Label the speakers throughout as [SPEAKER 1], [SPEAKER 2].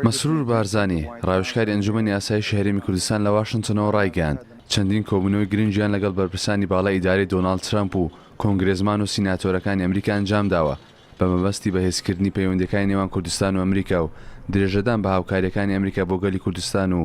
[SPEAKER 1] مەسرور بارزانی، ڕاوێژکاری ئەنجومەنی ئاسایشی هەرێمی کوردستان لە واشنتنەوە ڕایگەیاند، چەندین کۆبوونەوەی گرنگیان لەگەڵ بەرپرسانی باڵای ئیدارەی دۆناڵد ترەمپ و کۆنگرێزمان و سیناتۆرەکانی ئەمریکا ئەنجامداوە بە مەبەستی بەهێزکردنی پەیوەندیەکانی نێوان کوردستان و ئەمریکا و درێژەدان بە هاوکاریەکانی ئەمریکا بۆ گەلی کوردستان و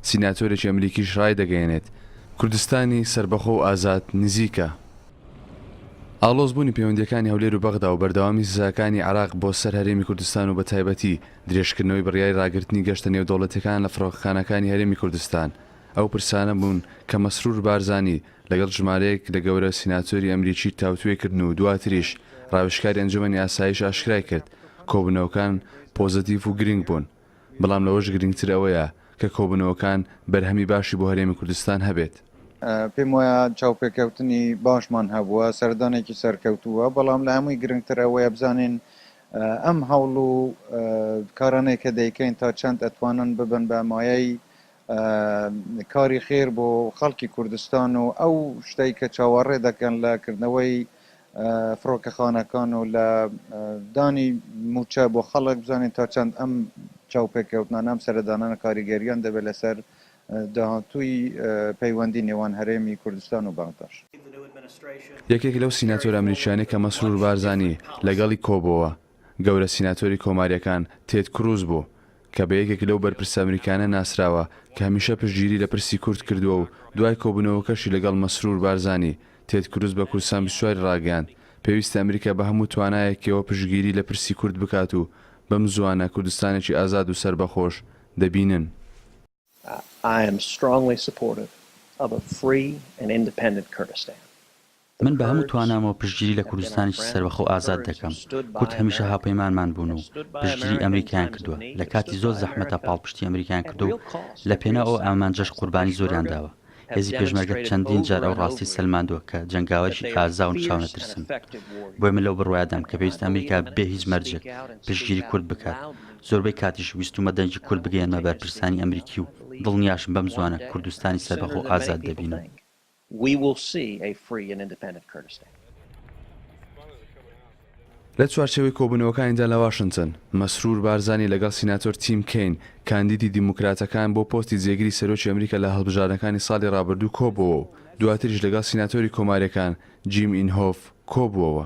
[SPEAKER 1] سیناتۆرێکی ئەمریکیش ڕایدەگەیەنێت، کوردستانی سەربەخۆ و ئازاد نزیکە. ئاڵۆز بوونی پەیوەندییەکانی هەولێر و بەغدا و بەردەوامی سزاکانی عێراق بۆ سەر هەرێمی کوردستان و بەتایبەتی درێژکردنەوەی بڕیاری ڕاگرتنی گەشتە نێودەوڵەتیەکان لە فڕۆکەخانەکانی هەرێمی کوردستان ئەو پرسانە بوون کە مەسرور بارزانی لەگەڵ ژمارەیەک لە گەورە سیناتۆری ئەمریکی تاوتوێ کردن و دواتریش ڕاوێژکاری ئەنجومەنی ئاسایش ئاشکرای کرد کۆبوونەوەکان پۆزەتیڤ و گرنگ بوون. بەڵام لەوەش گرنگتر ئەوەیە کە کۆبوونەوەکان بەرهەمی باشی بۆ هەرێمی کوردستان هەبێت. پێم وایە
[SPEAKER 2] چاوپێکەوتنی باشمان هەبووە، سەردانێکی سەرکەوتوو بووە، بەڵام لە هەمووی گرنگتر ئەوەیە بزانین ئەم هەوڵ و کارانەی کە دەیکەین تا چەند ئەتوانن ببن بە مایەی کاری خێر بۆ خەڵکی کوردستان و ئەو شتەی کە چاوەڕێ دەکەن لە کردنەوەی فڕۆکەخانەکان و لە دانی مووچە بۆ خەڵک بزانین تا چەند ئەم چاوپێکەوتنانە ئەم سەردانانە کاریگەریان دەبێت لەسەر داهاتووی پەیوەندی نێوان هەرێمی کوردستان و بەغداش.
[SPEAKER 1] یەکێک لەو سیناتۆرە ئەمریکیانەی کە مەسرور بارزانی لەگەڵی کۆبۆوە گەورە سیناتۆری کۆمارییەکان تێد کروز بوو، کە بە یەکێک لەو بەرپرسە ئەمریکانە ناسراوە کە هەمیشە پشتگیری لە پرسی کورد کردووە و دوای کۆبوونەوەکەشی لەگەڵ مەسرور بارزانی، تێد کروز بە کوردستان بیست و چوار ی ڕاگەیاند پێویستە ئەمریکا بە هەموو توانایەکیەوە پشتگیری لە پرسی کورد بکات و بەمزووانە کوردستانێکی ئازاد و سەربەخۆش دەبینن.
[SPEAKER 3] من
[SPEAKER 4] بە هەموو توانامەوە پشتگیری لە کوردستانێکی سەربەخۆ و ئازاد دەکەم. کورد هەمیشە هاوپەیمانمان بوون و پشتگیری ئەمریکایان کردووە. لە کاتی زۆر زەحمەتدا پاڵپشتی ئەمریکایان کردووە و لە پێناو ئەو ئامانجەش قوربانی زۆریان داوە. هێزی پێشمەرگە چەندین جار ئەو ڕاستیەی سەلماندووە کە جەنگاوەرێکی ئازاو و چاونەترسن. بۆیە من لەو بڕوایەدام کە پێویستە ئەمریکا بێ هیچ مەرجێک پشتگیری کورد بکات. زۆربەی کاتیش ویستومە دەنگی کورد بگەیەنمە بەرپرسانی ئەمریکی و دڵنیاشم بەم زوانە کوردستانی سەربەخۆ و ئازاد دەبینم.
[SPEAKER 1] لە چوارچێوەی کۆبوونەوەکانیدا لە واشنتن، مەسرور بارزانی لەگەڵ سیناتۆر تیم کەین، کاندیدی دیموکراتەکان بۆ پۆستی جێگری سەرۆکی ئەمریکا لە هەڵبژاردنەکانی ساڵی رابردوو کۆبووەوە و دواتریش لەگەڵ سیناتۆری کۆمارییەکان، جیم ئینهۆف کۆبووەوە.